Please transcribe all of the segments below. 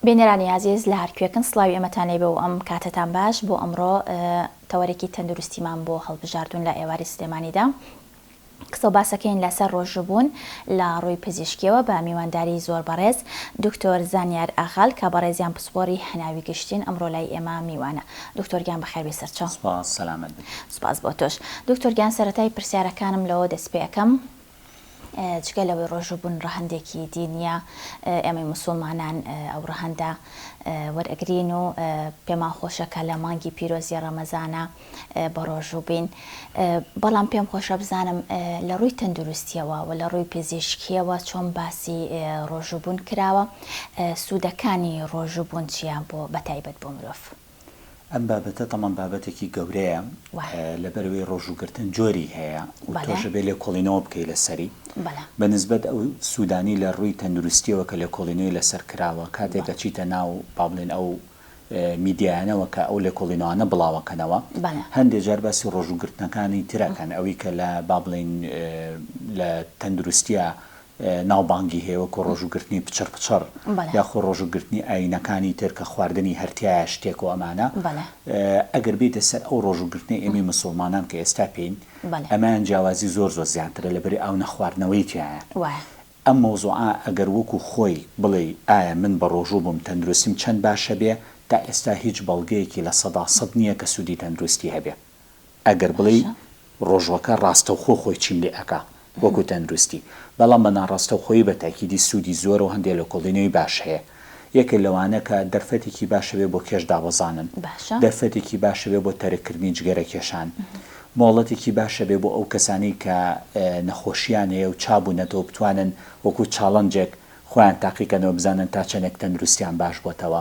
بینەرانی ئازیز لە هەر کوێکن سڵاوی ئێمەتان لێ بێ و ئەم کاتەتان باش بۆ ئەمڕۆ تەوەرێکی تەندروستیمان بۆ هەڵبژاردوون لە ئێواری سلێمانیدا قسە و باسەکەین لەسەر ڕۆژوبوون لە ڕووی پزیشکیەوە بە میوانداری زۆر بەڕێز دکتۆر زانیار ئاغال کە بەڕێزیان پسپۆری هەناوی گشتین ئەمڕۆ لای ئێمە میوانە دکتۆر گیان بەخێر بێ سەرچاو سپاس سەلامەت بن سپاس بۆ تۆش دکتۆر گیان سەرەتای پرسیارەکانم لەوە دەست پێ ئەکەم جگە لەوەی ڕۆژووبوون ڕەهەندێکی دینییە، ئێمەی موسوڵمانان ئەو ڕەهەندە وەرئەگرین و پێمان خۆشە کە لە مانگی پیرۆزی ڕەمەزانا بە ڕۆژوو بین، بەڵام پێم خۆشە بزانم لە ڕووی تەندروستییەوە و لە ڕووی پزیشکییەوە چۆن باسی ڕۆژووبوون کراوە؟ سوودەکانی ڕۆژووبوون چییە بۆ بەتایبەت بۆ مرۆڤ؟ ئەم بابەتە تەمان بابەتێکی گەورەیە لەبەرەوەی ڕۆژووگرتن جۆری هەیە و تۆشەبێ لێکۆڵینەوە بکەی لەسەری بە نسبەت ئەو سوودانی لە ڕووی تەندروستیەوە کە لێکۆڵینەوەی لەسەر کراوە کاتێک دەچیتە ناو با بڵێن ئەو میدیایانەوە کە ئەو لێکۆڵینەوانە بڵاوەکەنەوە هەندێک جار باسی ڕۆژووگرتنەکانی ترەکەن ئەوی کە لە با بڵین لە تەندروستە ناوبانگی هەیە وەکو ڕۆژو گرتنی پچڕ پچڕ یاخو ڕۆژو گرتنی ئاینەکانی تر کە خواردنی هەر تیایە شتێک و ئەمانە ئەگەر بێیتە سەر ئەو ڕۆژو گرتنەی ئێمەی مسوڵمانان کە ئێستا پێین ئەمەیان جیاوازی زۆر زۆر زیاترە لەبری ئاو نەخواردنەوەی تیایە ئەم مەوزوعە ئەگەر وەکو خۆی بڵێی ئایا من بە ڕۆژو بوم تەندروستیم چەند باشەبێ تا ئێستا هیچ بەڵگەیەکی لە سەدا سەد نیە کە سودی تەندروستی هەبێ ئەگەر بڵێی ڕۆژوەکە ڕاستەوخۆ خۆی چیم لێ ئەکا وەکو تەندروستی بەڵام بە ناڕاستەوخۆیی بە تاکیدی سوودی زۆرە و هەندێ لێکۆڵینەوەی باش هەیە یەکێ لەوانە کە دەرفەتێکی باشە بێ بۆ کێش دابەزانن دەرفەتێکی باشە بێ بۆ تەرک کردنی جگەرە کێشان مۆڵەتێکی باشە بێ بۆ ئەو کەسانەی کە نەخۆشیان هەیە و چا بوونەتەوە بتوانن وەکو چاڵنجێک خۆیان تاقیکەنەوە بزانن تا چەندێک تەندروستیان باش بۆتەوە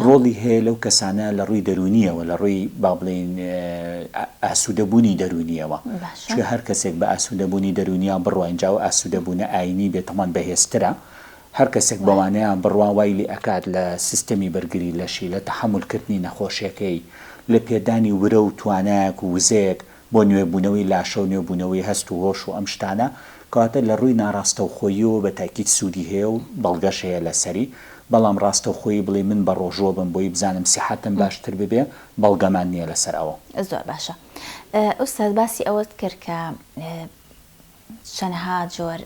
ڕۆڵی هەیە لەو کەسانە لە ڕووی دەرونیەوە لە ڕووی با بڵێین ئاسوودەبوونی دەرونیەوە چ هەر کەسێک بە ئاسوودەبوونی دەرونیا بڕواین جاو ئاسوودەبوونە ئاینی بێت هەمان بەهێزترە هەر کەسێک بەوانەیان بڕوا وای لێ ئەکات لە سیستەمی بەرگری لەشی لە تەحەمولکردنی نەخۆشیەکەی لە پێدانی ورە و توانایەک و وزەیەک بۆ نوێبوونەوەی لاشە و نوێبوونەوەی هەست و هۆش و ئەم شتانە، کەواتە لە ڕووی ناڕاستەوخۆییەوە بە تاکید سوودی هەیە و بەڵگەش هەیە لەسەری، بەڵام ڕاستەوخۆیی بڵێی من بە ڕۆژووە بم بۆی بزانم سیحەتم باشتر ببێ، بەڵگەمان نییە لەسەر ئەوە. زۆر باشە ئوستاز باسی ئەوەت کرد کە چەنها جۆر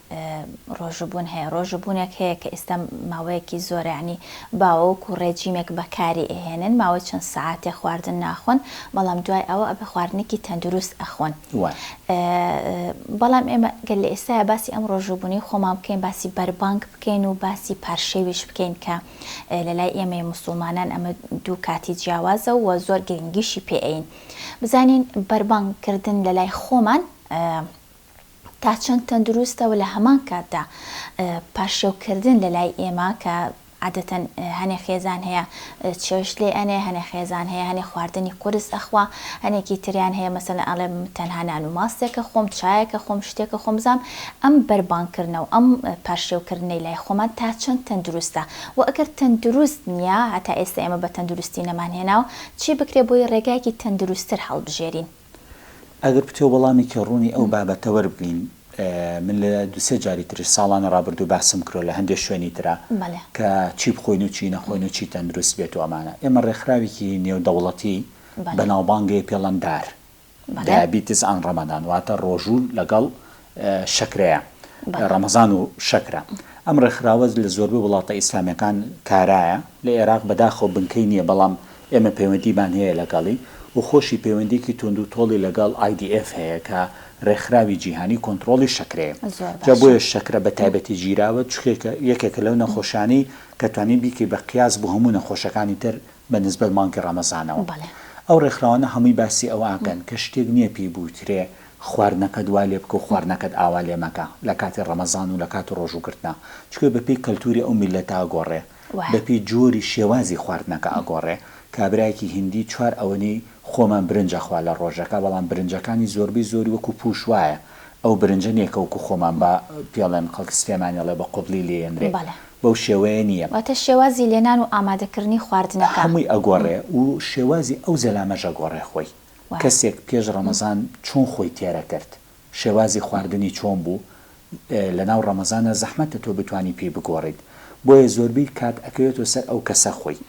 ڕۆژووبوون هەیە، ڕۆژووبوونێک هەیە کە ئیستا ماوەیەکی زۆرە یەعنی باوەوک و ڕێجیمێک بەکاری ئەهێنن ماوەی چەند سەعاتێ خواردن ناخۆن بەڵام دوای ئەوە ئەبێ خواردنێکی تەندروست ئەخۆن بەڵام ئێمە گەر لە ئێستایا باسی ئەم ڕۆژووبوونەی خۆمان بکەین باسی بەربانگ بکەین و باسی پارشێویش بکەین کە لە لای ئێمەی مسلمانان ئەمە دوو کاتی جیاوازە و زۆر گرنگیشی پێئین بزانین بەربانگ کردن لە لای خۆمان تا چەند تەندروستە و لە هەمان کاتدا پارشێوکردن لە لای ئێمە کە عادەتەن هەنێ خێزان هەیە چێشت لێ ئەنێ هەنێ خێزان هەیە هەنێ خواردنی قرس ئەخوا هەنێکی تریان هەیە مەسەن ئەڵێ تەنها نان و ماستێکە خۆم چایەکە خۆم شتێکە خۆم زام ئەم بەربانکردنە و ئەم پارشێوکردنەی لای خۆمان تا چەند تەندروستە و ئەگەر تەندروست نییە هەتا ئێستا ئێمە بە تەندروستی نەمان هێناوە چی بکرێ بۆی ڕێگایەکی تەندروستتر هەڵبژێرین ئەگەر پتەو وەڵامێکی ڕوونی ئەو بابەتە وەربگرین، من لە دوو سێ جاری تریش ساڵانی ڕابردوو باسم کردوە لە هەندێ شوێنی ترا کە چی بخۆین و چی نەخۆین و چی تەندروست بێت و ئەمانە. ئێمە ڕێکخراوێکی نێودەوڵەتی بەناوبانگەی پێڵەندار، Diabetes and Ramadan، واتە ڕۆژوو لەگەڵ شەکرەیە، ڕەمەزان و شەکرە. ئەم ڕێکخراوە لە زۆربەی وڵاتە ئیسلامییەکان کارایە، لە ئێراق بەداخەوە بنکەی نییە، بەڵام ئێمە پەیوەندیمان هەیە لەگەڵی و خۆشی پەیوەندییەکی توندوتۆڵی لەگەڵ IDF هەیە کە ڕێکخراوی جیهانی کۆنتڕۆڵی شەکرەیە. جا بۆیە شەکرە بە تایبەتی گیراوە، چونکە یەکێکە لەو نەخۆشانەی کە توانی بیکەی بە قیاس بۆ هەموو نەخۆشەکانی تر بە نسبەت مانگی ڕەمەزانەوە. ئەو ڕێکخراوانە هەمووی باسی ئەوە ئەکەن کە شتێک نییە پێی بوترێ، خواردنەکەت وا لێ بکە و خواردنەکەت ئاوا لێ مەکە لە کاتی ڕەمەزان و لە کاتی ڕۆژوو گرتنا، چونکە بە پێی کەلتووری ئەو میللەتە ئەگۆڕێ، بە پێی جۆری شێوازی خواردنەکە ئەگۆڕێ، کابرایەکی هیندی چوار ئەوەنی خۆمان برنج ئەخوا لە ڕۆژەکە، بەڵام برنجەکانی زۆربەی زۆری وەکوو پووش وایە، ئەو برنجە نییە کە وەکوو خۆمان با پێڵێن خەڵکی سلێمانی ئەڵێ بە قۆبلی لێ یەنرێ، بەو شێوەیە نییە. واتە شێوازی لێنان و ئامادەکردنی خواردنەکە. هەمووی ئەگۆڕێ و شێوازی ئەو زەلامەش ئەگۆڕێ خۆی. و. کەسێک پێش ڕەمەزان چۆن خۆی تێرەکرد؟ شێوازی خواردنی چۆن بوو؟ لەناو ڕەمەزانا زەحمەتە تۆ بتوانی پێی بگۆڕیت بۆیە زۆربەی کات ئەکەوێتەوە سەر ئەو کەسە خۆی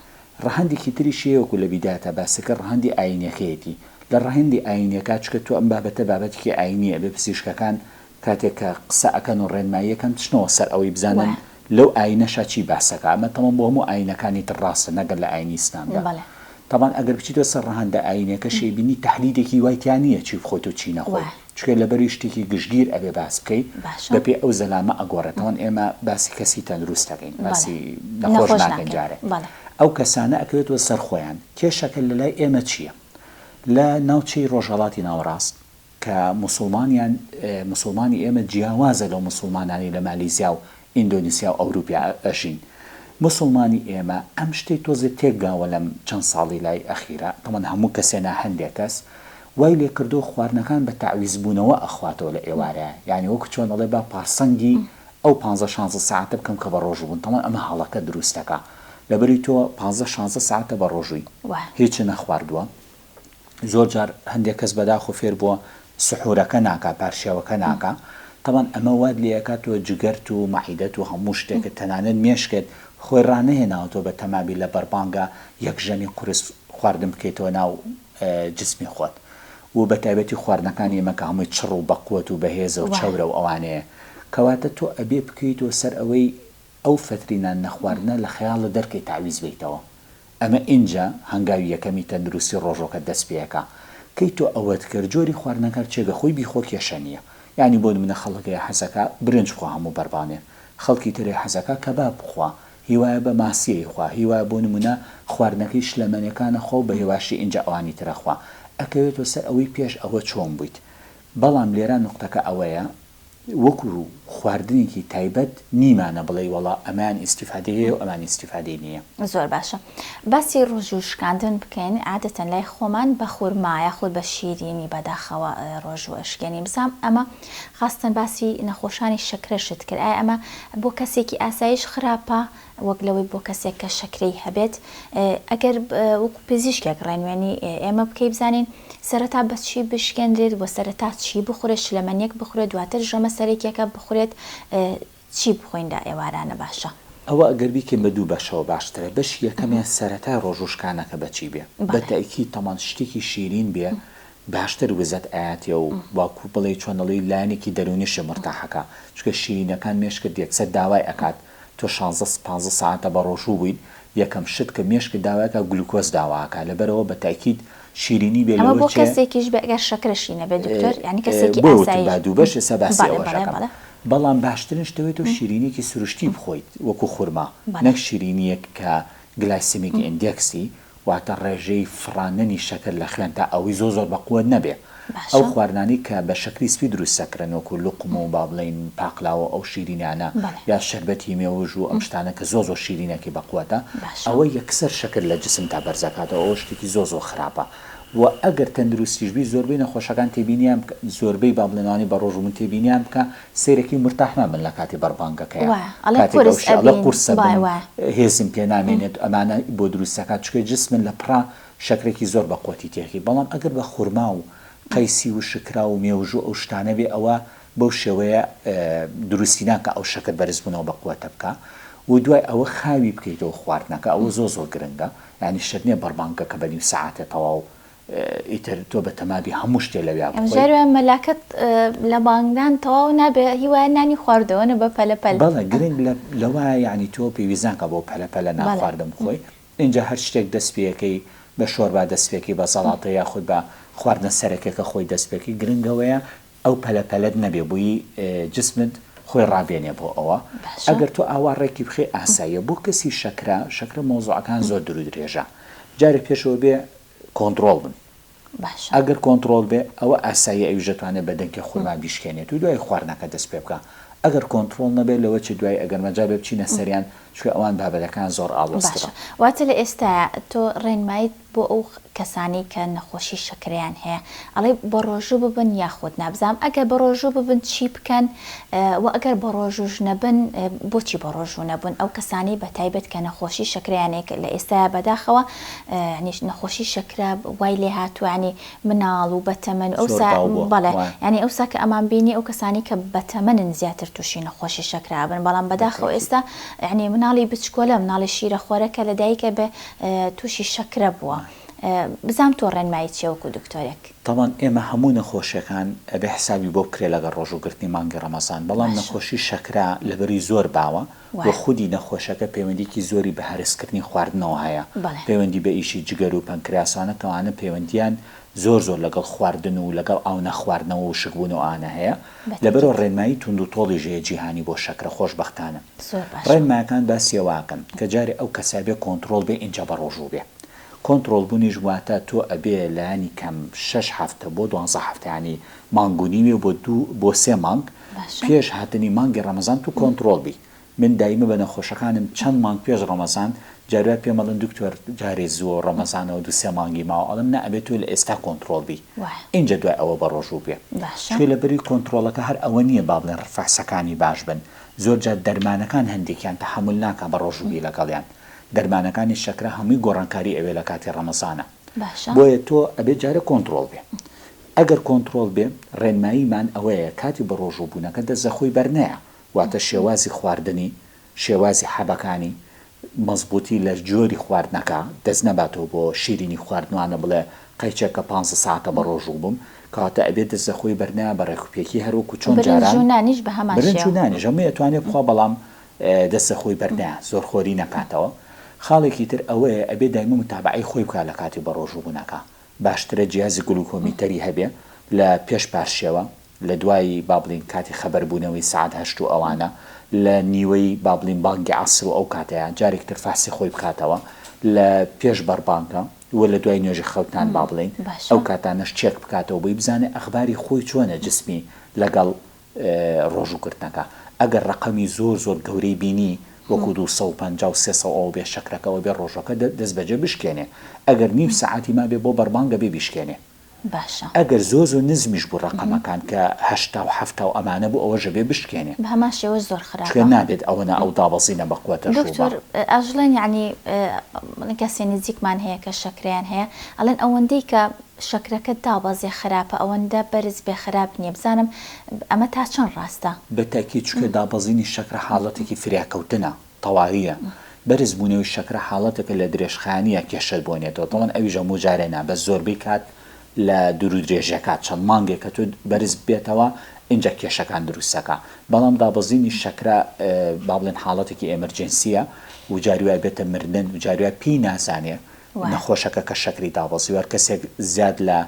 ڕەهەندیکی تریش هەیە وەکو لە بیداتا باسکرد ڕەهەندی ئاینیەکەیەتی لە ڕەهەندی ئاینیەکا چکە تۆ ئەم بابەتە بابەتیکی ئاینیە ئەبێ پزیشکەکان کاتێک کە قسە ئەکەن و ڕێنمایی ئەکەن چنەوە سەر ئەوەی بزانن لەو ئایینەشا چی باس ئەکا ئەمە تەمەن بۆ هەموو ئایینەکانی تر ڕاستە نەگەر لە ئایینی ئیسلامدا تەبان ئەگەر بچیتەوە سەر ڕەهەندە ئایینیەکەش ئەیبینی تەحلیلێکی وای تیا نیە چی بخۆیت و چی نەخۆی چونکە لەبەری شتێکی گشتگیر ئەبێ باس بکەی بەپێ ئەو زەلامە ئەگۆڕێ تەوان ئێمە باسی کەسی تەندروست ئەکەین باسی نەخۆش ناکەین جارێ ئەو کەسانە ئەکەوێتەوە سەر خۆیان کێشەکە لەلای ئێمە چیە لە ناوچەی ڕۆژهەڵاتی ناوەڕاست کە موسوڵمانیان موسوڵمانی ئێمە جیاوازە لەو موسوڵمانانەی لە مالیزیا و ئیندۆنیسیا و ئەوروپیا ئەژین موسوڵمانی ئێمە ئەم شتەی تۆزێ تێک گاوە لەم چەند ساڵی لای ئەخیرا تەمان هەموو کەسێ نا هەندێ کەس وای لێ کردوە خواردنەکان بە تەعویز بونەوە ئەخواتەوە لە ئێوارەیا یانی وەکو چۆن ئەڵێ با پارسەنگی ئەو پانزە شانزە سەعاتە بکەم کە بە ڕۆژو بوون تەمان ئەمە هەڵەکە دروستەکا لەبەری تۆ پانزە شانزە سەعاتە بە ڕۆژوی هیچ نەخواردوە زۆر جار هەندێک کەس بەداخۆ فێر بووە سحورەکە ناکا پارشێوەکە ناکا تەبان ئەمە وات لێ ئەکا تۆ جگەرت و مەعیدەت و هەموو شتێکت تەنانەت مێشکت خۆی ڕانەهێناوە تۆ بە تەما بی لە بەربانگە یەک ژەمی قورس خواردن بکەیتەوە ناو جسمی خۆت و بە تایبەتی خواردنەکانی ئێمە کە هەمووی چڕ و بەقوەت و بەهێزە و چەورە و ئەوانەیە کەواتە تۆ ئەبێ بکەیتەوە سەر ئەوەی ئەو فەتری نان نەخواردنە لە خەیاڵت دەرکەی تەعویز بەیتەوە ئەمە ئینجا هەنگاوی یەکەمی تەندروستی ڕۆژۆکەت دەست پێەکا کەی تۆ ئەوەت کرد جۆری خواردنەکە هەرچیە گە خۆی بیخۆ کێشە نیە یانی بۆ نمونە خەڵک هەیە حەزەکا برنج بخوا هەموو بەربانێ خەڵکی تر هەیە حەزەکا کەباب بخوا هیوایە بە ماسیە یخوا هیوایە بۆ نمونە خواردنەکەی شلەمەنێکانە خوا و بە هێواشی ئینجا ئەوانی ترە خوا ئەکەوێتۆ سەر ئەوەی پێش ئەوە چۆن بویت بەڵام لێرا نوقتەکە ئەوەیە وەکو خواردنێکی تایبەت نیمانە بڵێی وەڵا ئەمەیان ئیستیفادەی هەیە و ئەمان ئیستیفادەی نییە. زۆر باشە باسی ڕوژ و شکاندن بکەین عادەتەن لای خۆمان بە خورما یاخود بە شیرینی بەداخەوە ڕۆژوو ئەشکێنین بزانم ئەمە خاستەن باسی نەخۆشانی شەکرەشت کرد ئایا ئەمە بۆ کەسێکی ئاسایش خراپە وەک لەوەی بۆ کەسێک کە شەکرەی هەبێت ئەگەر وەکو پزیشکێک ڕێنوێنی ئێمە بکەی بزانین سەرەتا بە چی بشکێنرێت و سەرەتا چی بخورێت شلەمەنیەک بخورێت دواتر ژەمە سەرەکیەکە بخورێت چی بخۆین لە ئێوارانە باشە؟ ئەوە ئەگەر بیکەین بە دوو بەشەوە باشترە بەشی یەکەمیان سەرەتای ڕۆژ وشکانەکە بە چی بێ بە تەئکید تەمان شتێکی شیرین بێ باشتر وزەت ئەیاتێ و واکو بڵێ چۆن ئەڵێی لایەنێکی دەرونیشە مورتاحەکا چونکە شیرینەکان مێشکت یەکسەر داوای ئەکات تۆ شانزە پانزە سەعاتە بەڕۆژوو بوویت یەکەم شت کە مێشکت داواکا گلوکۆز داواکا لەبەرئەوە بە تەئکید شیرینی بێ ئەمە لەوە بۆ چێ کەسێکیش بێ گەر شەکرەشی نەبێ دکتۆر یانی کەسێکی بۆیە وتم ئاسایش با دوو بەش ئێستا باسی بەڵێ ئەوەش بەڵێ ئەکەم بەڵێ بەڵام باشترین شتە بێ تۆ شیرینیەکی سروشتی بخۆیت وەکو خورما بەڵێ. نەک شیرینیەک کە گلایسیمیک ئیندێکسی واتە ڕێژەی فڕاندنی شەکر لە خوێنتا ئەوەی زۆر زۆر بەقوەت نەبێ ئەو باشە خواردنانەی کە بە شەکری سپی دروستەکرن وەکو لوقم و با بڵێین پاقلاوە ئەو شیرینانە بەڵێ یا شەربەتی مێوژ و ئەم شتانە کە زۆر زۆر شیرینە کە بەقوەتە باشە ئەوە یەکسەر شەکر لە جسمتا بەرزەکاتەوە ئەوە شتێکی زۆر زۆر خراپە وە ئەگەر تەندروستیش بی زۆربەی نەخۆشەکان تێبینیان بکە زۆربەی با بڵێن ئەوانەی بەڕۆژ بوون تێبینیان بکە سەیرەکەی مورتاح نابن لەکاتی بەربانگەکەیا وایە ئەڵێ کاتێک قورس ئەوشێ ئەڵێ ئەبین قورسە بن وایە وایە هێزم پێ نامێنێت ئەمانە بۆ دروست ئەکات چونکە جسمن لە پڕا شەکرەکی زۆر بە قوتی تێکی بەڵام ئەگەر بە خورما و قەیسی و شکرا و مێوژو ئەو شتانە بێ ئەوە بەو شێوەیە دروستی ناکا ئەو شەکر بەرز بونەوە بە قوەتە بکا و دوای ئەوە خاوی بکەیتەوە خواردنەکە ئەوە زۆر زۆر گرنگە یانی شەرنیە بەربانگەکە بە نیو سەعاتێ تەواو ئیتر تۆ بە تەمابی هەموو شتێ لەویا بخۆی. ئەمجارە وایە مەلاکەت لە بانگدان تەواو نابێ هی وایە نانی خواردووەنە بە پەلە پەل. بەڵێ گرنگ لەوایە یانی تۆ پێویست ناکا بۆ پەلە پەلە نان خواردن بخۆی ئینجا هەر شتێک دەست پێەکەی بە شۆربا دەست پێکی بە زەڵاتە یاخود بە خواردنە سەرەکێکە خۆی دەست پێکی گرنگ ئەوەیە ئەو پەلە پەلەت نەبێ بۆیی جسمت خۆی ڕابێنێ بۆ ئەوە ئەگەر تۆ ئاوا ڕێکی بخێ ئاساییە بۆ کەسی شەکرە شەکرە مەوزوعەکان زۆر درودرێژە جارێ پێشەوە بێ کۆنتڕۆڵ بن باشە ئەگەر کۆنتڕۆڵ بێ ئەوە ئاساییە ئەویش دەتوانێت بە دەنکی خورما بیشکێنێت و دوای خواردنەکە دەست پێ بکا ئەگەر کۆنتڕۆڵ نەبێت لەوە چ دوای ئەگەر مەجال بێ بچینە سەریان چونکە ئەوان بابەتەکان زۆر ئاڵۆزترە. باشە واتە لە ئێستایا تۆ ڕێنماییت بۆ ئەو کەسانەی کە نەخۆشی شەکرەیان هەیە ئەڵێی بە ڕۆژوو ببن یاخود نا بزانم ئەگەر بە ڕۆژوو ببن چی بکەن وە ئەگەر بە ڕۆژووش نەبن بۆچی بە ڕۆژوو نەبن ئەو کەسانەی بە تایبەت کە نەخۆشی شەکرەیان هەیە کە لە ئێستایا بەداخەوە یانی نەخۆشی شەکرە وای لێ هاتووە ینی مناڵ و بەتەمەن ئەو بەڵێ ینی ئەوسا کە ئەمان بینی ئەو کەسانی کە بەتەمەنن زیاتر تووشی نەخۆشی شەکرابن بەڵام بەداخەوە ئێستا ینی مناڵی بچکۆلە مناڵی شیرە خۆرەکە لە دایکە بە تووشی شەکرە بووە. بزام تۆ ڕێنمایی چێوەکو دکتۆرێک تاوان ئێمە هەموو نەخۆشیەکان ئەبێ حسابی بۆ بکرێ لەگە ڕۆژوو گرتنی مانگی ڕەمەزان بەڵام نەخۆشی شەکرا لەبەری زۆر باوە وە خودی نەخۆشەکە پەیوەندیەکی زۆری بە هەرسکردنی خواردنەوە هەیە پەیوەندی بە ئیشی جگەر و پەنکراس ئەوانە کە ئەوانە پەیوەندیان زۆر زۆر لەگەڵ خواردن و لەگەڵ ئاو نەخواردنەوە و شک بوون و ئەوانە هەیە لەبەرئەوە ڕێنمایی توند و تۆڵیش هەیە جیهانی بۆ شەکرە خۆشبەختانە ڕێنمایەکان باسی ئەوەکەن کە جارێ ئەو کەسە بێ کۆنتڕۆڵ بێ ئینجا بەڕۆژوو بێ کۆنتڕۆڵ بونیش واتە تۆ ئەبێ لانی کەم شەش هەفتە بۆ دوانزە هەفتە یانی مانگ و نیوێ بۆ دوو بۆ سێ مانگ پێش هاتنی مانگی ڕەمەزان تو کۆنتڕۆڵ بی من دایمە بە نەخۆشەکانم چەند مانگ پێش ڕەمەزان جار جار پێم ئەڵێن دکتۆر جارێ زووە ڕەمەزانەوە دوو سێ مانگی ماوە ئەڵێم نا ئەبێ تۆ لە ئێستا کۆنتڕۆڵ بی ئینجا دوای ئەوە بە ڕۆژوو بێ چونکە لە بری کۆنتڕۆڵەکە هەر ئەوە نییە با بڵێن ڕفەسەکانی باش بن زۆر جار دەرمانەکان هەندێکیان تەحەمول ناکا بە ڕۆژوو بی لەگەڵیان دەرمانەکانی شەکرە هەمووی گۆڕانکاری ئەوێ لە کاتی ڕەمەزانە باشە. بۆیە تۆ ئەبێ جارێ کۆنتڕۆڵ بێ ئەگەر کۆنتڕۆڵ بێ ڕێنماییمان ئەوەیە کاتی بەڕۆژوو بوونەکە دەست لە خۆی بەرنەیە واتە شێوازی خواردنی شێوازی حەبەکانی مەزبووتی لە جۆری خواردنەکە دەست نەباتەوە بۆ شیرینی خواردن وانە بڵێ قەیچەکە پانزە سەعاتە بەڕۆژوو بووم کەواتە ئەبێ دەست لە خۆی بەرنەیە بە ڕێکوپێکی هەروەکو چۆن جاران برنج و نانیش بە هەمان شێوە برنج و نانیش هەمووی ئەتوانێ بخوا بەڵام دەستە خۆی بەرنا زۆر خۆری نەکاتەوە خاڵێکی تر ئەوەیە ئەبێ دایمە متابەعەی خۆی بکا لە کاتی بەڕۆژوو بونەکە باشترە جیازی گلوکۆمیتەری هەبێ لە پێش پارشێوە لە دوای با بڵێین کاتی خەبەر بونەوەی سەعات هەشت و ئەوانە لە نیوەی با بڵێین بانگی عەسر و ئەو کاتەیا جارێک تر فەحسی خۆی بکاتەوە لە پێش بەربانگە و لە دوای نوێژی خەوتان با بڵێین ئەو کاتانەش چێک بکاتەوە بۆی بزانێ ئەخباری خۆی چۆنە جسمی لەگەڵ ڕۆژوو گرتنەکە ئەگەر ڕەقەمی زۆر زۆر گەورەی بینی وەکو دوو سەد و پەنجا و سێ سەد ئەوەبێ شەکرەکە ئەوەبێ ڕۆژوەکە دەستبەجێ بشکێنێ ئەگەر نیو سەعاتی مابێ بۆ بەربانگە بێ بیشکێنێ باشە. ئەگەر زۆر زۆر نزمیش بوو ڕەقەمەکان کە هەشتا و حەفتا و ئەمانە بوو ئەوەش ئەبێ بشکێنێ بەهەمان شێوەش زۆر خراپە. چونکە نابێت ئەوەنە ئەو دابەزینە بە قوەتە ژووبە. دکتۆر ئەژڵێن یەعنی کەسێ نزیکمان هەیە کە شەکرەیان هەیە ئەڵێن ئەوەندەی کە شەکرەکەت دابەزێ خراپە ئەوەندە بەرز بێ خراپ نیە بزانم ئەمە تا چەند ڕاستە. بە تەئکید چونکە دابەزینی شەکرە حاڵەتێکی فریاکەوتنە تەواویە بەرز بونەوەی شەکرە حاڵەتێکە لە درێژخایەنیە کێشەت بۆ نیەتەوە تەبەن ئەویش هەموو جارێ نا بەس زۆربەی کات لە دورو درێژە کات چەند مانگێکە تۆ بەرز بێتەوە ئینجا کێشەکان دروستەکا بەڵام دابەزینی شەکرە با بڵێن حاڵەتێکی ئێمەرجێنسیە و جاری وای بێتە مردن و جاری وای پێی نازانێ نەخۆشەکە کە شەکری دابەزیوە، هەر کەسێک زیاد لە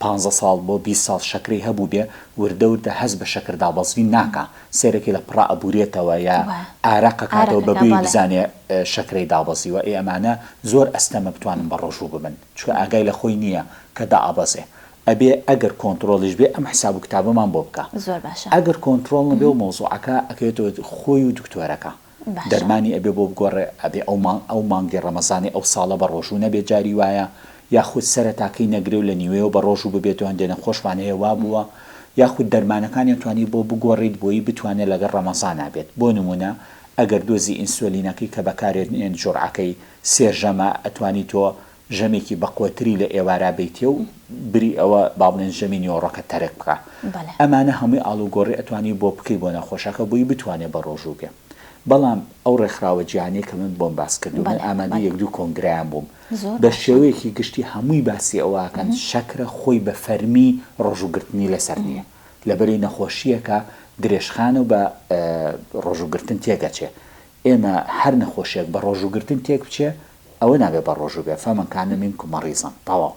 پانزە ساڵ بۆ بیست ساڵ شەکرەی هەبووبێ وردە وردە هەست بە شەکر دابەزین ناکا، سێرەکی لە پڕا ئەبورێتەوە یا ئارەق ئەکاتەوە بە بێی بزانێ شەکرەی دابەزیوە، ئێ ئەمانە زۆر ئەستەمە بتوانن بە ڕۆژوو ببن، چونکە ئاگای لە خۆی نییە کە دائەبەزێ، ئەبێ ئەگەر کۆنتڕۆڵیش بێ ئەم حساب و کتابەمان بۆ بکا، ئەگەر کۆنتڕۆڵ نەبێ و مەوزوعەکە ئەکەوێتەوە خۆی و دکتۆرەکە. دەرمانی ئەبێ بۆ بگۆڕێ ئەبێ ئەو مانگی ڕەمەزانی ئەو ساڵە بە ڕۆژوو نەبێ جاری وایە یاخود سەرەتاکەی نەگرێ و لە نیوەیەوە بە ڕۆژوو ببێت و هەندێ نەخۆشمان هەیە وا بووە یاخود دەرمانەکانیان توانی بۆ بگۆڕیت بۆیی بتوانێ لەگەڵ ڕەمەزانا بێت بۆ نموونە ئەگەر دۆزی ئینسۆلینەکەی کە بەکارێت نێن جوڕعەکەی سێ ژەمە ئەتوانی تۆ ژەمێکی بەقوەتری لە ئێوارا بەیتیە و بری ئەوە با بڵێن ژەمی نیوەڕۆکە تەرک بکا بەڵێ. ئەمانە هەمووی ئاڵوگۆڕی ئەتوانی بۆ بکەی بۆ نەخۆشەکە بۆی بتوانێ بەڕۆژوو بێ بەڵام ئەو ڕێکخراوە جیهانیە کە من بۆم باس کردوو من بەڵێ ئامادەی بەڵێ. یەک دوو کۆنگرەیان بووم زۆر بە باشە. شێوەیەکی گشتی هەمووی باسی ئەوە ئەکەن شەکرە خۆی بە فەرمی ڕۆژوو گرتنی لەسەر نیە لەبەری نەخۆشیەکە درێژخانە و بە ڕۆژوو گرتن تێک ئەچێ ئێمە هەر نەخۆشێک بە ڕۆژوو گرتن تێک بچێ ئەوە نابێ بە ڕۆژوو بێ، فمن کان منکم مەڕیزا، تەواو.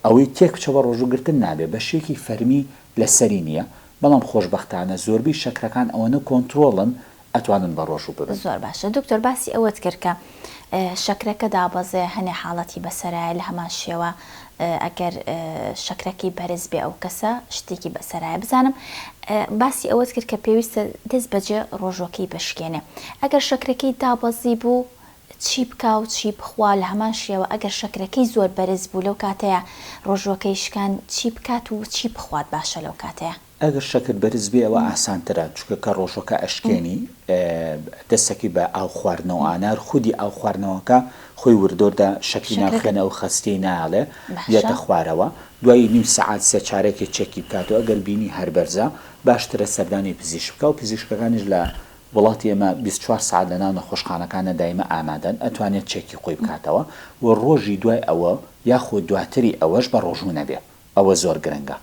ئەوەی تێک بچە بە ڕۆژوو گرتن نابێ، بە شێکی فەرمی لە سەری نییە، بەڵام خۆشبەختانە زۆربەی شەکرەکان ئەوەنە کۆنترۆڵن ئەتوانن بە ڕۆژوو ببن. زۆر باشە دکتۆر باسی ئەوەت کرد کە شەکرەکە دابەزێ هەنێ حاڵەتی بەسەرایە لە هەمان شێوە ئەگەر شەکرەکەی بەرز بێ ئەو کەسە شتێکی بەسەرایە بزانم باسی ئەوەت کرد کە پێویستە دەست بەجێ ڕۆژۆکەی بشکێنێ ئەگەر شەکرەکەی دابەزی بوو چی بکا و چی بخوا، لە هەمان شێوە ئەگەر شەکرەکەی زۆر بەرز بوو لەو کاتەیا ڕۆژووەکەی شکان چی بکات و چی بخوات باشە لەو کاتەیا؟ ئەگەر شەکر بەرز بێ ئەوە ئاسانترە چونکە کە ڕۆژووەکە ئەشکێنی دەستەکەی بە ئاو خواردنەوە ئانار خودی ئاو خواردنەوەکە خۆی وردۆر دە شەکری ناو شەکرەکە خوێنە ئەو خەستیەی نایەڵێ باشە. دێتە خوارەوە دوای نیو سەعات سێ چارەکێ چێکی بکاتەوە ئەگەر بینی هەر بەرزە باشترە سەردانی پزیشک بکا و پزیشکەکانیش لە وڵاتی ئێمە بیست چوار سەعات لە ناو نەخۆشخانەکانە دایمە ئامادەن ئەتوانێت چێکی خۆی بکاتەوە و ڕۆژی دوای ئەوە یاخۆ دواتری ئەوەش بە ڕۆژوو نەبێ ئەوە زۆر گرنگە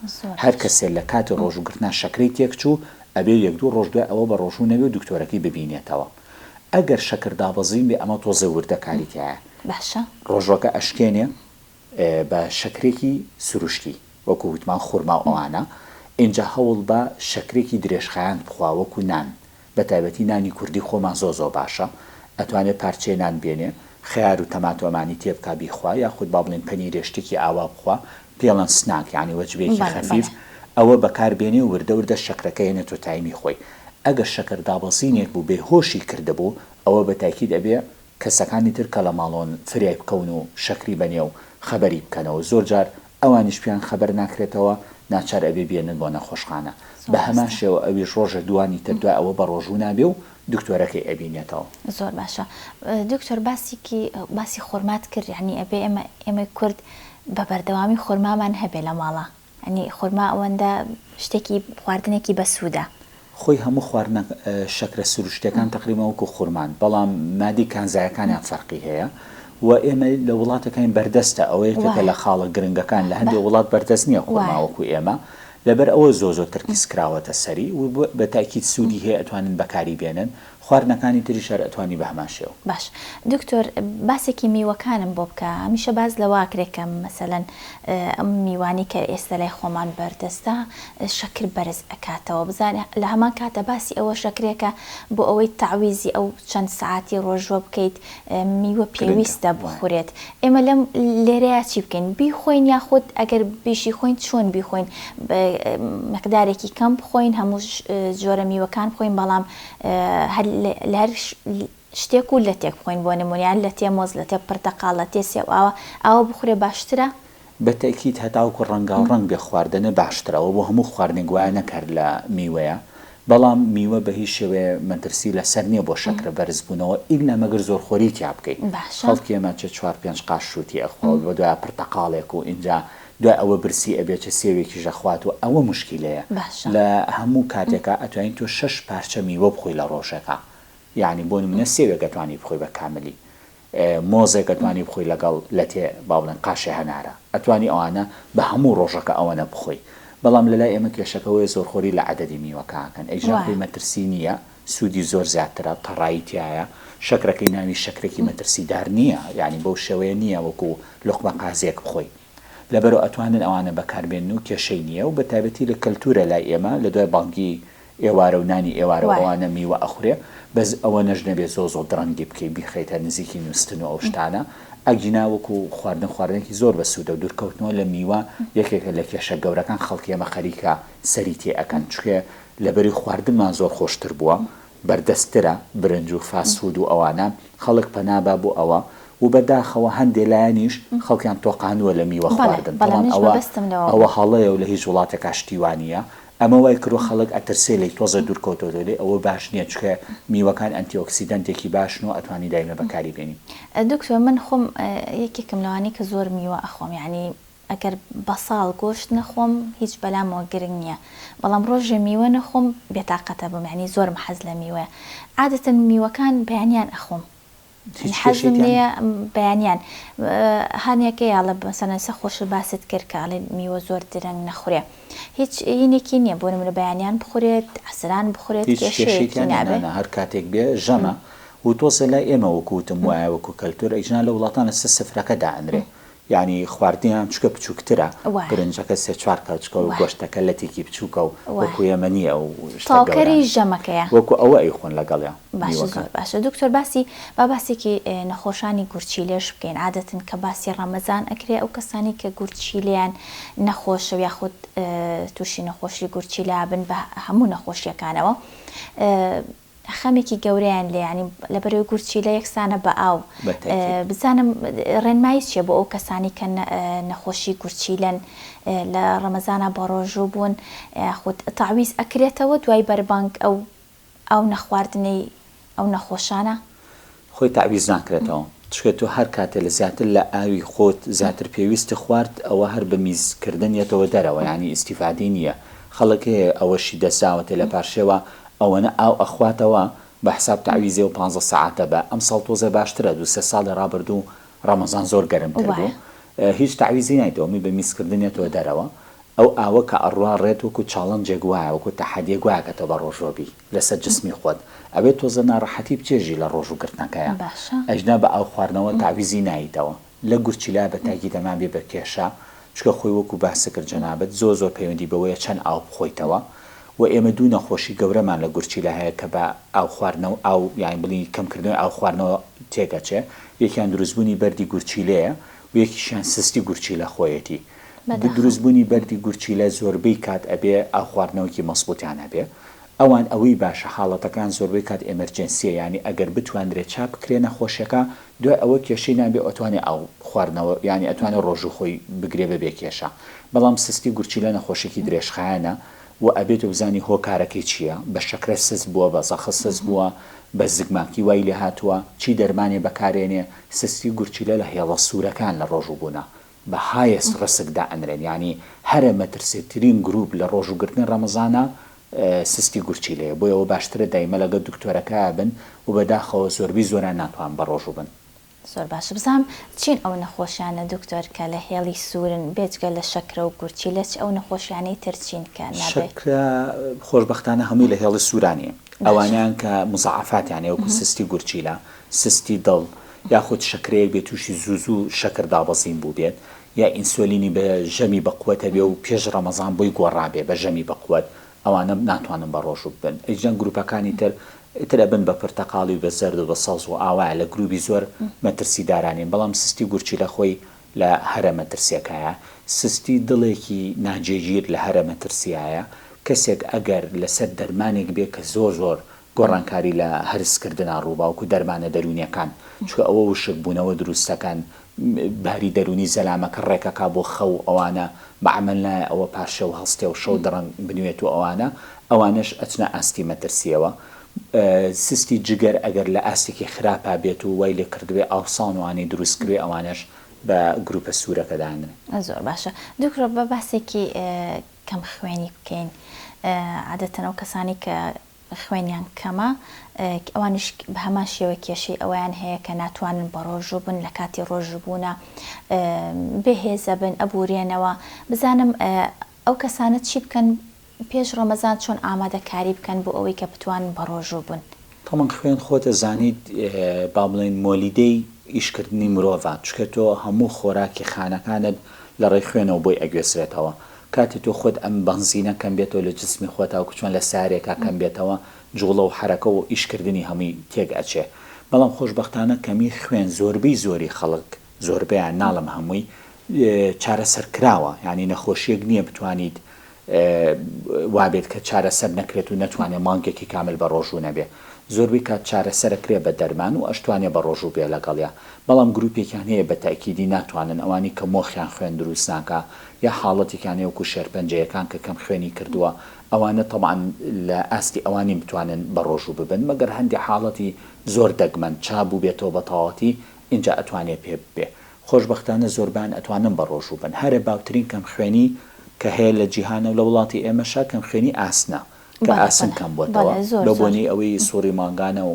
هەر کەسێ لە کاتی ڕۆژوو گرتنا شەکرەی تێکچوو ئەبێ یەک دوو ڕۆژ دوای ئەوە بە ڕۆژوو نەبێ و دکتۆرەکەی ببینێتەوە ئەگەر شەکر دابەزین بێ ئەمە تۆزێ وردە کاری تیایە ڕۆژووەکە ئەشکێنێ بە شەکرێکی سروشتی وەکو وتمان خورما و ئەوانە، ئینجا هەوڵبە شەکرێکی درێژخایەن بخوا وەکو نان، بەتایبەتی نانی کوردی خۆمان زۆر زۆر باشە، ئەتوانێ پارچەیە نان بێنێ خەیار و تەماتۆمانی تێبکا بیخوا یاخود با بڵێین پەنیرێ شتێکی ئاوا بخوا پێڵەن سناک یانی وەجبەیەکی خەفیف ئەوە بەکار بێنێ و وردە وردە شەکرەکە هێنێتۆ تایمی خۆی ئەگەر شەکر دابەزینێک بوو بێهۆشی کردبوو ئەوە بەتاکید ئەبێ کەسەکانی تر کە لە ماڵۆن فرێ بکەون و شەکری بە نێو خەبەری بکەنەوە زۆر جار ئەوانیش پێیان خەبەر ناکرێتەوە ناچار ئەبێ بێنن بۆ نەخۆشخانە بە هەمان شێوە ئەویش ڕۆژێ دووانی تر دوای ئەوە بە ڕۆژوو نابێ و دکتۆرەکەی ئەبینێتەوە. زۆر باشە دکتۆر باسیکی باسی خورمات کرد یانی ئەبێ ئێمە ئێمەی کورد بە بەردەوامی خورمامان هەبێ لە ماڵا یانی خورما ئەوەندە شتێکی خواردنێکی بەسوودە. خۆی هەموو خواردنە شەکرە سروشتیەکان تەقریبەن وەکو خورمان بەڵام مادی کانزایەکانیان فەرقی هەیە و ئێمە لە وڵاتەکانی بەردەستە ئەوە یەکێکە لە خاڵە گرنگەکان لە هەندێ وڵات بەردەست نیە خورما وەکو ئێمە لەبەر ئەوە زۆ زۆ ترکیز کراوەتە سەری و بە تاکید سوودی هەیە ئەتوانن بەکاری بێنن خواردنەکانی تریش هەر ئەتوانی بە هەمان شێوە. باش دکتۆر باسێکی میوەکانم بۆ بکە هەمیشە باس لەواکرێ کە مەسەلەن ئەم میوانەی کە ئێستە لای خۆمان بەردەستە شەکر بەرز ئەکاتەوە بزانە لە هەمان کاتە باسی ئەوە شەکرێکە بۆ ئەوەی تەعویزی ئەو چەند سەعاتی ڕۆژووە بکەیت میوە پێویستە بخورێت ئێمە لەم لێرەیا چی بکەین بیخۆین یاخود ئەگەر بیشیخۆین چۆن بیخۆین مقدارێکی کەم بخۆین هەموو جۆرە میوەکان بخۆین بەڵام لەهەر شتێک و لەتێک بخۆین بۆ نمونە لەتێ مۆز لەتێ پرتەقاڵ لەتێ سێو ئاوە ئاوە بخورێ باشترە؟ بەتەئکید هەتاوەکو ڕەنگاو ڕەنگ بێ خواردنە باشترە ئەوە بۆ هەموو خواردنێک وایە نەک هەر لە میوەیە بەڵام میوە بە هیچ شێوەیە مەترسی لەسەر نیە بۆ شەکرە بەرزبونەوە ئیلا مەگەر زۆر خۆری تیا بکەی خەڵکی ئێمە چ چوار پێنج قاش شوتی ئەخوا و بەدوایە پرتەقاڵێک و ئینجا دوای ئەوە برسی ئەبێ چ سێوێکیش ئەخوات و ئەوە موشکیلەیە باشە. لە هەموو کاتێکا ئەتوانی تۆ شەش پارچە میوە بخۆی لە ڕۆژێکا یانی بۆ نمونە سێوێک ئەتوانی بخۆی بە کاملی مۆزێک ئەتوانی بخۆی لەگەڵ لەتێ با بڵێن قاشێ هەنارە ئەتوانی ئەوانە بە هەموو ڕۆژەکە ئەوەنە بخۆی بەڵام لەلای ئێمە کێشەکە ئەوەیە زۆرخۆری لە عەدەدی میوەکە ئەکەن ئیجا خۆی وایە. مەترسی نییە. سودی زۆر زیاترە تەڕایی تیایە شەکرەکەی ناوی شەکرەکی مەترسیدار نیە یانی بەو شێوەیە نیە وەکو لوقمە قازیەک بخۆی لەبەرو ئەتوانن ئەوانە بەکاربێنن و کێشەی نیە و بەتایبەتی لە کەلتورە لای ئێمە لە دوای بانگی ئێوارە و نانی ئێوارە و ئەوانە میوە ئەخورێ بەس ئەوەنەش نەبێ زۆ زۆ درەنگی بکەی بیخەیتە نزیکی نوستن و ئەو شتانە ئەگینا وەکو خواردن خواردنێکی زۆر بەسودەو دورکەوتنەوە لە میوە یەکێکە لە کێشە گەورەکان خەڵکی ئێمە خەریکە سەری تێ ئەکەن چکێ لەبەری خواردنمان زۆر خۆشتر بووە بەردەستترە برنج و فاست فود و ئەوانە خەڵک پەنابا بۆ ئەوە و بەداخەوە هەندێ لایەنیش خەڵکیان تۆقاندووە لە میوە خواردن تەڵان ئەوە ئەوە هەڵەیە و لە هیچ وڵاتێکا شتی وا نییە ئەمە وای کردووە خەڵک ئەترسێ لێی تۆزێ دوور کەوتۆتەوە لێی ئەوە باش نییە چکە میوەکان ئەنتی ئۆکسیدەنتێکی باشن و ئەتوانی دایمە بەکاری بێنی. دکتۆر من خۆم یەکێکم لەوانەی کە زۆر میوە ئەخۆم یانی ئەگەر بەساڵ گۆشت نەخۆم هیچ بەلامەوە گرنگ نیە بەڵام ڕۆژێ میوە نەخۆم بێتاقەتەبم یانی زۆرم حەز لە میوەیە عادەتەن میوەکان بەیانیان ئەخۆم یانی حەزم لێیە بەیانیان هانیەکەی ئەڵێ مەسەلەن ئێستا خۆشت باست کرد کە ئەڵێ میوە زۆر درەنگ نەخورێ هیچ یینێکی نیە بۆ نمونە بەیانیان بخورێت عەسران بخورێت کێشەیەکی نابێ. نانا هەر کاتێک بێ ژەمە وتۆزێ لای ئێمە وەکو وتم وایە وەکو کەلتور ئیجنا لە وڵاتان لەسەر سفرەکە دائەنرێ یانی خواردنیان چوکە بچوکترە وایە. برنجەکە سێ چوار کەوچکە و وایە. گۆشتەکە لەتێکی بچوکە و وایە. وەکو ئێمە نیە ئەو شتە گەورانە تاوکەری ژەمەکەیە. وەکو ئەوە ئەیخۆن لەگەڵیا باشە میوەکە. زۆر باشە دکتۆر باسی با باسێکی نەخۆشانی گورچیلەش بکەین عادەتەن کە باسی ڕەمەزان ئەکرێ ئەو کەسانەی کە گورچیلەیان نەخۆشە و یاخود توشی نەخۆشی گورچیلە بن بە هەموو نەخۆشیەکانەوە خەمێکی گەورەیان لێیە یانی لەبەرەوەی گورچیلە یەکسانە بە ئاو بزانم ڕێنمایی چیە بۆ ئەو کەسانی کە نەخۆشی گورچیلەن لە ڕەمەزانا بەڕۆژوو بوون خود تاویز ئەکرێتەوە دوای بەربانگ ئەو ئاو نەخواردنەی ئەو نەخۆشانە؟ خۆی تەعویز ناکرێتەوە چونکە تۆ هەر کاتێ لە زیاتر لە ئاوی خۆت زیاتر پێویستت خوارد ئەوە هەر بە میز کردن یەتەوە دەرەوە یانی ئیستیفادەی نیە خەڵک هەیە ئەوەشی دەساوەتێ لە پارشێوا ئەوەنە ئاو ئەخواتەوە بە حساب تەعویزێ و پانزە سەعاتە بە ئەم ساڵ تۆزێ باشترە دوو سێ ساڵی ڕابردوو ڕەمەزان زۆر گەرم تر بوو وایە. هیچ تەعویزی نایتەوە می بە میز کردن یەتەوە دەرەوە ئەو ئاوە کە ئەڕوا ڕێت وەکو چاڵنجێک وایە وەکو تەحەدیەک وایە کە تۆ بە ڕۆژوە بی. لەسەر جسمی خۆت ئەبێت تۆزە ناڕەحەتی بچێژی لە ڕۆژ و گرتنەکەیا باشە. ئەجنا بە ئاو خواردنەوە تەعویزی نایتەوە لە گورچیلا بە تاکی دەما بێ بە کێشە چونکە خۆی وەکو باست کرد جەنابت زۆر زۆر پەیوەندی بەوەیە چەند ئاو بخۆیتەوە وە ئێمە دوو نەخۆشی گەورەمان لە گورچیلا هەیە کە بە ئاو خواردنەوە ئاو یانی بڵی کەم کردنەوەی ئاو خواردنەوە تێک ئەچێ یەکیان دروست بوونی بەردی گورچیلەیە و یەکیشیان سستی گورچیلە خۆیەتی بەداخەوە. دروست بونی بەردی گورچیلە زۆربەی کات ئەبێ ئاو خواردنەوەکی مەزبوتیان هەبێ ئەوان ئەوەی باشە حاڵەتەکان زۆربەی کات ئێمەرجێنسیە یانی ئەگەر بتواندرێ چاپ بکرێ نەخۆشەکە دوای ئەوە کێشەی نابێ ئەتوانێ ئاو خواردنەوە یانی ئەتوانێ ڕۆژو خۆی بگرێ بەبێ کێشە بەڵام سستی گورچیلە نەخۆشێکی درێژخایەنە و ئەبێ تۆ بزانی هۆکارەکەی چیە بە شەکرە سس بوە بە زەخت سس بوە بە زگماکی وای لێهاتوە چی دەرمانێ بەکارێنێ سستی گورچیلە لە هێڵە سورەکان لە ڕۆژو بونە بە هایس ڕسک دائەنرێن یانی هەرە مەترسێ ترین گروپ لە ڕۆژو گرتنی ڕەمەزانە سستی گورچیلەیە بۆیە وە باشترە دایمە لەگەل دکتۆرەکایا بن و بەداخەوە زۆربی زۆران ناتوان بە ڕۆژو بن. زۆر باشە بزانم چین ئەو نەخۆشیانە دکتۆر کە لە هێڵی سورن بێجگە لە شەکرە و گورچیلە چ ئەو نەخۆشیانەی تر چین کە نابێ. شەکرە خۆش بەختانە هەمووی لە هێڵی سورا نیە ئەوانەیان کە مزاعەفاتیان هەیە وەکو سستی گورچیلە سستی دڵ یاخود شەکرەیەک بێت تووشی زوو زوو شەکر دابەزین بووبێت، یا ئینسۆلینی بە ژەمی بەقوەت هەبێ و پێش ڕەمەزان بۆی گۆڕابێ بە ژەمی بەقوەت، ئەوانە ناتوانن بە ڕۆژوو ببن. ئیجدەن گرووپەکانی تر، ئیتر ئەبن بە پرتەقاڵی و بە زەرد و بە سەوز و ئاوایە لە گرووبی زۆر مەترسیدارا نین، بەڵام سستی گورچیلە خۆی لە هەرە مەترسیەکایە. سستی دڵێکی ناجێگیر لە هەرە مەترسیایە. کەسێک ئەگەر لەسەر دەرمانێک بێ کە زۆر زۆر گۆڕانکاری لە هەرس کردنا ڕووباوک و دەرمانە دەروونیەکان چونکە ئەوە وشک بوونەوە دروست دەکەن باری دەروونی زەلامەکە ڕێک ئەکا بۆ خەو ئەوانە بە عەمەل نایە ئەوە پارشێو هەڵستێ و شەو دڕەنگ بنوێت و ئەوانە ئەوانەش ئەچنە ئاستی مەترسیەوە سستی جگەر ئەگەر لە ئاستێکی خراپا بێت و وای لێ کردبێ ئاوسان وانەی دروست کروێ ئەوانەش بە گروپە سوورەکە دانرێن. زۆر باشە دکتۆر با باسێکی کەم خوێنی بکەین عادەتەن ئەو کەسانەی کە خوێنیان کەمە، ئەوانیش بە هەمان شێوە کێشەی ئەوەیان هەیە کە ناتوانن بەڕۆژوو بن لە کاتی ڕۆژووبوونا بێ هێزە بن ئەبورێنەوە، بزانم ئەو کەسانە چی بکەن پێش ڕەمەزان چۆن ئامادەکاری بکەن بۆ ئەوەی کە بتوانن بەڕۆژوو بن؟ تەمەن خوێن خۆت ئەزانیت با بڵێین مۆلیدەی ئیشکردنی مرۆڤە چونکە تۆ هەموو خۆراکی خانەکانت لە ڕێی خوێنەوە بۆی ئەگوێزرێتەوە، کاتێ تۆ خۆت ئەم بەنزینە کەم بێتەوە لە جسمی خۆتا وەکو چۆن لە سارێکا کەم بێتەوە جوڵە و حەرەکە و ئیش کردنی هەمووی تێک ئەچێ بەڵام خۆشبەختانە کەمی خوێن زۆربەی زۆری خەڵک زۆربەیان ناڵێم هەمووی چارەسەر کراوە یانی نەخۆشیەک نیە بتوانیت وابێت کە چارەسەر نەکرێت و نەتوانێ مانگێکی کامل بە ڕۆژوو نەبێ زۆربەی کات چارەسەر ئەکرێ بە دەرمان و ئەشتوانێ بە ڕۆژوو بێ لەگەڵیا بەڵام گروپێکیان هەیە بە تەئکیدی ناتوانن ئەوانی کە مۆخیان خوێن دروست ناکا یا حاڵەتیکانەی وەکو شێرپەنجەیەکان کە کەم خوێنی کردووە، ئەوانە تەبعەن لە ئاستی ئەوان نین بتوانن بەڕۆژوو ببن، مەگەر هەندێ حاڵەتی زۆر دەگمەن، چا بووبێتەوە بە تەواوەتی، ئینجا ئەتوانێ پێ ببێ. خۆشبەختانە زۆربەیان ئەتوانن بەڕۆژوو بن. هەرە باوترین کەم خوێنی کە هەیە لە جیهان و لە وڵاتی ئێمەشا کەم خوێنی ئاسنە. کە ئاسن کەم بۆتەوە بە بۆنەی ئەوەی سوڕی مانگانە و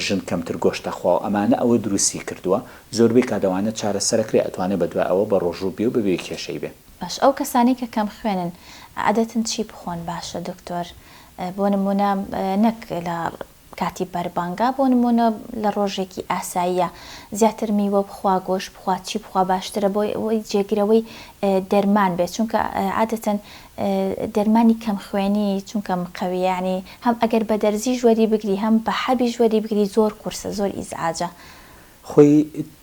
ژن کەمتر گۆشت دەخوا و ئەمانە ئەوە دروستی کردووە زۆربەی کات ئەوانە چارەسەر ئەکرێ ئەتوانێ بە دوای ئەوە بە ڕۆژوو بێ و بەبێ کێشەی بێ. باش ئەو کەسانەی کە کەم خوێنن عادەتەن چی بخۆن باشە دکتۆر بۆ نمونە نەک لە. کاتی بەربانگە بۆ نموونە لە ڕۆژێکی ئاساییە زیاتر میوە بخوا گۆشت بخوا چی بخوا باشترە بۆ ئەوەی جێگرەوەی دەرمان بێت چونکە عادەتەن دەرمانی کەم خوێنی چونکە مقەویە یانی هەم ئەگەر بە دەرزیش وەری بگری هەم بە حەبیش وەری بگری زۆر قورسە زۆر ئیزعاجە خۆی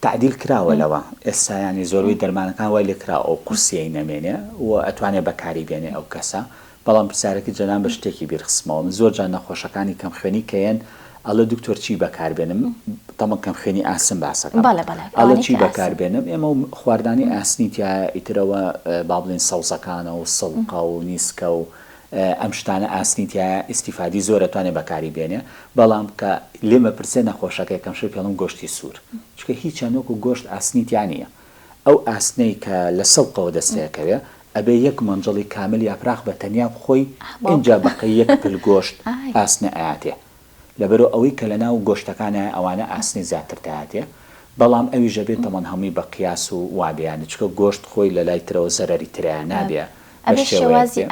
تەعدیل کراوە لەوە ئێستا یانی زۆربەی دەرمانەکان وای لێکراوە ئەو قورسیەی نەمێنێ و ئەتوانێ بەکاری بێنێ ئەو کەسە بەڵام پرسیارەکەی جەنابت بە شتێکی بیرخستمەوە من زۆر جار نەخۆشەکانی کەم خوێنی کە یەن ئەڵێ دکتۆر چی بەکار بێنم تەمەن کەم خوێنی ئاسن باسەکەم بەڵێ بەڵێ ئەڵێ ئەوانەی چی کە ئاسن بەکار بێنم ئێمە و خواردنی ئاسنی تیایە ئیتر ئەوە با بڵێین سەوزەکانە و سڵقە و نیسکە و ئەم شتانە ئاسنی تیایە ئیستیفادی زۆرە توانێ بەکاری بێنێ بەڵام کە لێ مەپرسێ نەخۆشەکە یەکەم شت پێڵم گۆشتی سور چونکە هیچیان وەکو گۆشت ئاسنی تیا نیە ئەو ئاسنەی کە لە سڵقەوە دەستێەکەوێ ئەبێ یەک مەنجەڵی کامل یاپراخ بە تەنیا بخۆی ئینجا بەقەی یەک پل گۆشت ئاسنە ئەیاتێ لەبەرو ئەوەی کە لەناو گۆشتەکانایە ئەوانە ئاسنی زیاتر تیاتیە بەڵام ئەویش ئەبێ تەمەن هەمووی بە قیاس و وابێ یانی چونکە گۆشت خۆی لەلای ترەوە زەرەری ترایە نابێ بە شێوەیەک بێ.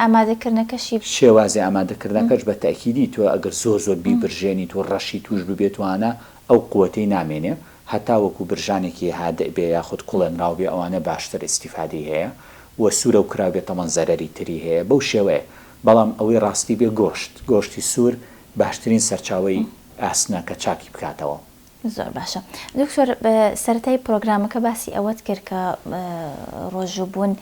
شێوازی ئامادەکردنەکەش بە تەئکیدی تۆ ئەگەر زۆر زۆر بیبرژێنیت و ڕەشی توش ببێت وانە ئەو قوەتەی نامێنێ هەتا وەکو برژانێکی هادئ بێ یاخود کوڵێنراو بێ ئەوانە باشتر ئیستیفادەی هەیە و سورەو کرابێ تەمەن زەرەری تری هەیە بەو شێوەیە بەڵام ئەوەی ڕاستی بێ گۆشت گۆشتی سور باشترین سەرچاوەی ئاسنە کە چاکی بکاتەوە. زۆر باشە دکتۆر سەرەتای پرۆگرامەکە باسی ئەوەت کرد کە ڕۆژوو بوون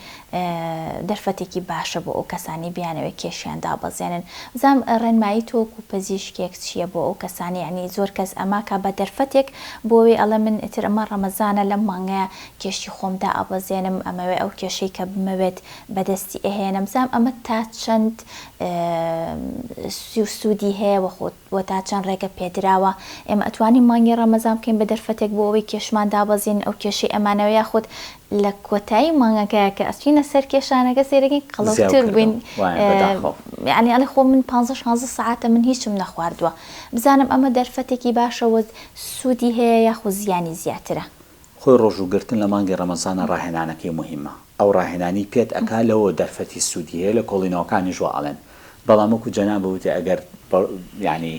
دەرفەتێکی باشە بۆ ئەو کەسانی بیانەوەی کێشیان دابەزێنن بزانم ڕێنمایی تۆ و پزیشکێک چییە بۆ ئەو کەسانی عنی زۆر کەس ئەماکە بە دەرفەتێک بۆێ ئەڵە من تر ئەمە ڕەمەزانە لەم مانگەیە کێشی خۆم دا ئابەزێنم ئەمەوێ ئەو کێشەی کە بمەوێت بەدەستی ئەهێنم بزانم ئەمە تا چەند سی و سوودی هەیە و خۆ و تا چەند ڕێگە پێدراوە ئێمە ئەتوانین مانگی ڕەمەزان بکەین بە دەرفەتێک بۆ ئەوەی کێشمان دابەزین ئەو کێشەی ئەمانەوە یاخود لە کۆتایی مانگەکە کە ئەچینە سەر کێشانەکە سێرەکەین قەڵەوتر بووین یعنی ئەڵێ خۆ من پانزە شانزە سعاتە من هیچم نەخواردووە بزانم ئەمە دەرفەتێکی باشە وە سوودی هەیە یاخود زیانی زیاترە. خۆی ڕۆژوو گرتن لە مانگی ڕەمەزانە ڕاهێنانەکەی موهیمە ئەو ڕاهێنانی پێت ئەکا لەوەوە دەرفەتی سوودی هەیە لە کۆڵینەوەکانیش وا ئەڵێن بەڵام وەکو جەنابت وتی ئەگەر یانی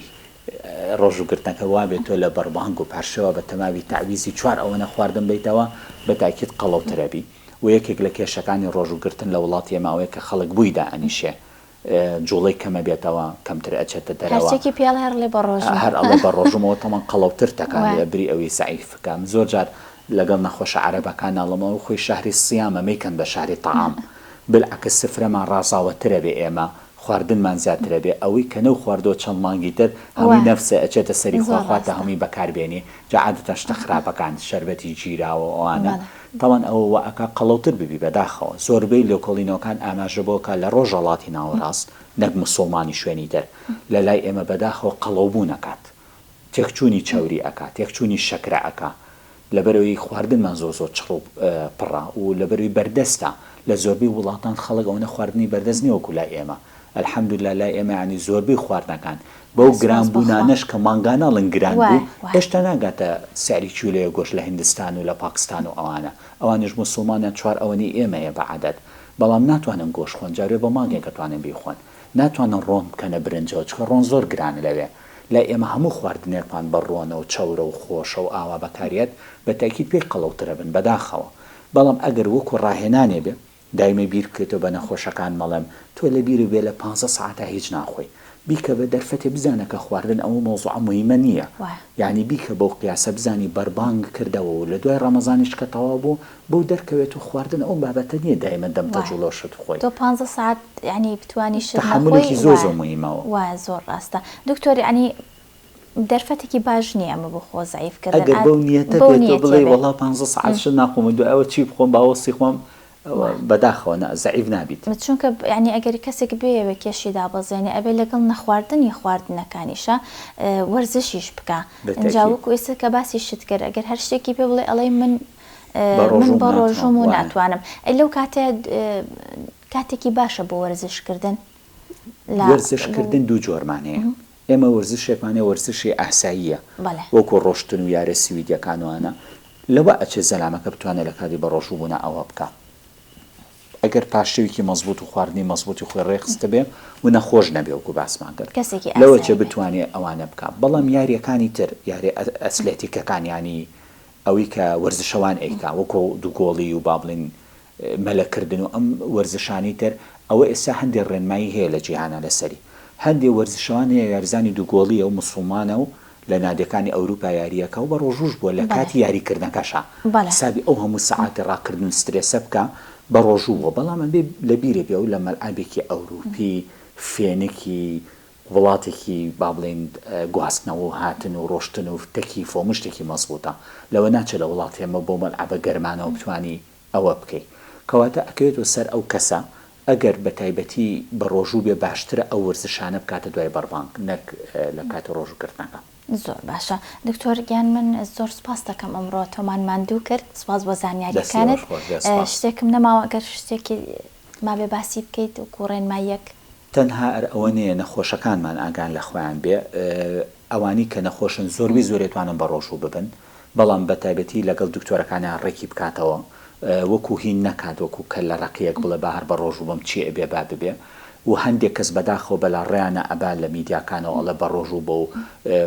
ڕۆژوو گرتنەکە وابێت تۆ لە بەربانگ و پارشێوا بە تەماوی تەعویزی چوار ئەوەنە خواردن بەیتەوە بە تاکید قەڵەوتر ئەبی وە یەکێک لە کێشەکانی ڕۆژوو گرتن لە وڵاتی ئێمە ئەوەیە کە خەڵک بووی دائەنیشێ جوڵەی کەمە بێتەوە کەمتر ئەچێتە دەرەوە. هەرچێکی پێڵێ هەر ئەڵێ بە ڕۆژم. هەر ئەڵێ بە ڕۆژمەوە تەمەن قەڵەوتر تەکانێ وە. بری ئەوی زەعیف کە من زۆر جار لەگەڵ نەخۆشە عەرەبەکان ئەڵێم ئەوە خۆی شەهری صیامە مەیکەن بە شەهری طعام بالعکس سفرەمان ڕازاوەترە بێ ئێمە خواردنمان زیاترە بێ ئەوەی کە نەو خواردوە چەند مانگی تر هەمووی وە نەفسە ئەچێتە سەری خوا زۆر خوا تا ڕاستە. هەمووی بەکار بێنی جا عادەتەن شتە خراپەکان شەربەتی گیراوە ئەوانە بەڵێ. تاوان ئەوە وائەکا قەڵەوتر ببی بەداخەوە زۆربەی لێکۆڵینەوەکان ئاماژە بەوەکا لە ڕۆژەڵاتی ناوەڕاست نەک مسوڵمانی شوێنی تر لەلای ئێمە بەداخەوە قەڵەوبوون ئەکات تێکچوونی چەوری ئەکا تێکچوونی شەکرە ئەکا لەبەرئەوەی خواردنمان زۆر زۆر چڕ و پڕە و لەبەرئەوەی بەردەستە لە زۆربەی وڵاتان خەڵک ئەوەنە خواردنی بەردەست نیە وەکو لای ئێمە الحمدللە لای ئێمە یانی زۆربەی خواردنەکان بەو سوپاس بە خوا. گرانبوونانەش کە مانگانە ئەڵێن گران وای بوو وای. هێشتا ناگاتە سعری کیلۆیە گۆشت لە هندستان و لە پاکستان و ئەوانە ئەوانیش موسوڵمانن چوار ئەوەنی ئێمە هەیە بە عەدەد بەڵام ناتوانن گۆشت خۆن جارێ بە مانگێک ئەتوانن بیخۆن ناتوانن ڕۆن بکەنە برنجەوە چکە ڕۆن زۆر گرانە لەوێ لای ئێمە هەموو خواردنێکمان بە ڕۆنە و چەورە و خۆشە و ئاوا بەکاریەت بە تەئکید پێی قەڵەوترەبن بەداخەوە بەڵام ئەگەر وەکو ڕاهێنانێ بێ دایمە بیر بکەیتەوە بە نەخۆشەکان مەڵێم تۆ لەبیرو بێ لە پانزە سەعاتە هیچ ناخۆی بیکە بە دەرفەتێ بزانە کە خواردن ئەوە مەوزوعە موهیمە نیە وایە. یانی بیکە بەو قیاسە بزانی بەربانگ کردەوە و لە دوای ڕەمەزانیش کە تەواو بوو بۆو دەرکەوێت و خواردن ئەو بابەتە نیە دایمە دەم تەج و وایە لۆشت بخۆی. تۆ پانزە سەعات یانی بتوانی شت نەخۆی تەحەمولێکی زۆر وایە زۆر موهیمە ئەوە. وایە زۆر ڕاستە دکتۆر یانی دەرفەتێکی باش نیە ئەمە بۆ خۆ زەعیف کردن ئەگەر بەو نیەتە بێت تۆ بڵێی وەڵا پانزە سەعات شت ناخۆم و دوای ئەوە چی بخۆم با وەستی خۆم ئەوە بەداخەوە نا زەعیف نابیت. چونکە یانی ئەگەر کەسێک بیەوێ کێشی دابەزێنێ ئەبێ لەگەڵ نەخواردنی خواردنەکانیشا وەرزشیش بکا ئینجا وەکو ئێستا کە باسی شت کرد ئەگەر هەر شتێکی پێ بڵێ ئەڵێی من من بە ڕۆژووم و ناتوانم ئەی لەو کاتە کاتێکی باشە بۆ وەرزش کردن. وەرزش کردن دوو جۆرمان هەیە ئێمە وەرزشێکمان هەیە وەرزشی ئاساییە بەڵێ. وەکو ڕۆشتن و یارە سویدیەکان و ئەانە لەوە ئەچێت زەلامەکە بتوانێت لە کاتی بەڕۆژوو بوونا ئەوە بکا ئەگەر پاشەویکی مەزبوط و خواردنی مەزبوطی خۆی ڕێ خستبێ و نەخۆش نەبێ وەکو باسمان کرد کەسێکی لەوە ئاسایی چێ بێت. بتوانێ ئەوانە بکا بەڵام یاریەکانی تر یارێ ئە ئەسلێتیکەکان یانی ئەوی کە وەرزشەوان ئەیکا وەکو دووگۆڵی و با بڵێین مەلە کردن و ئەم وەرزشانەی تر ئەوە ئێستا هەندێ ڕێنمایی هەیە لە جیهانا لەسەری هەندێ وەرزشەوان هەیە یاریزانی دوگۆڵیە و موسڵمانە و لە نادیەکانی ئەوروپا یاریەکە و بە ڕۆژووش بووە لە کاتی یاری کردنەکەشا حسابی ئەو هەموو سەعاتی ڕاکردن و سترێسە بکا بە ڕۆژوو بووە بەڵام ئەبێ لە بیرێ بێ ئەو لە مەلعەبێکی ئەوروپی فێنکی وڵاتێکی با بڵێین گواستنەوە و هاتن و ڕۆشتن و تەکیفە و هەموو شتێکی مەزبوتە لەوە ناچێ لە وڵاتی ئێمە بەو مەلعەبە گەرمانەوە بتوانی ئەوە بکەی کەواتە ئەکەوێتەوە سەر ئەو کەسە ئەگەر بەتایبەتی بەڕۆژوو بێ باشترە ئەو وەرزشانە بکاتە دوای بەڕبانگ نەک لە کاتی ڕۆژوو گرتنەکە. زۆر باشە دکتۆر گیان من زۆر سوپاست دەکەم ئەمڕۆ تۆمان ماندوو کرد سوپاس بۆ زانیاریەکانت شتێکم نەماوە گەر شتێکی مابێ باسی بکەیت وەکو ڕێنماییەک. تەنها ئەر ئەوە نیە نەخۆشەکانمان ئاگان لە خۆیان بێ ئەوانی کە نەخۆشن زۆر وی زۆرێ توانن بە ڕۆژوو ببن بەڵام بە تایبەتی لە گەڵ دکتۆرەکانە ڕێکی بکاتەوە وەکوو هین نەکات وەکوو کە لە ڕەقیەک بڵێ با هەر بە ڕۆژوو بم چی ئەبێ با ببێ و هەندێ کەس بە داخەوە بە لا ڕێیانە ئەبا لە میدیاکانەوە ئەڵێ بە ڕۆژوو بە و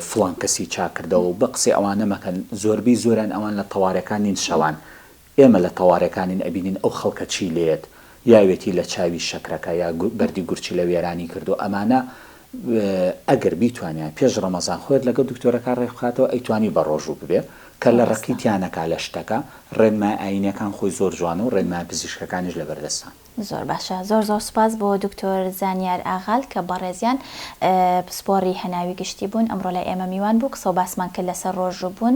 فڵان کەسی چاک کردەوە و بە قسەی ئەوانە مەکەن زۆربی زۆریان ئەوان لە تەوارێکان نین شەوان ئێمە لە تەوارێکانین ئەبینین ئەو خەڵکە چی لێیەت یاوێتی لە چاوی شەکرەکە یا بەردی گورچیلە وێرانی کردوە ئەمانە ئەگەر بیتوانیان پێش ڕەمەزان خۆێت لەگەڵ دکتۆرەکە ڕێک بخاتەوە ئەیتوانی بە ڕۆژوو ببێ کە لە ڕەقی تیانەکا لە شتەکە ڕێنمای ئاینەکان خۆی زۆر جوانە و ڕێنمای پزیشکەکانیش لەبەردەستان. زۆر باشە زۆر زۆر سوپاس بۆ دکتۆر زانیار ئاغال کە بەڕێزیان پسپۆڕی هەناوی گشتی بوون ئەمڕۆ لای ئێمە میوان بوو قسە و باسمان کرد لەسەر ڕۆژوو بوون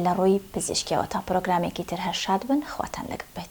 لە ڕووی پزیشکیەوە تا پرۆگرامێکی تر هەر شاد بن خواتان لەگەڵ بێت.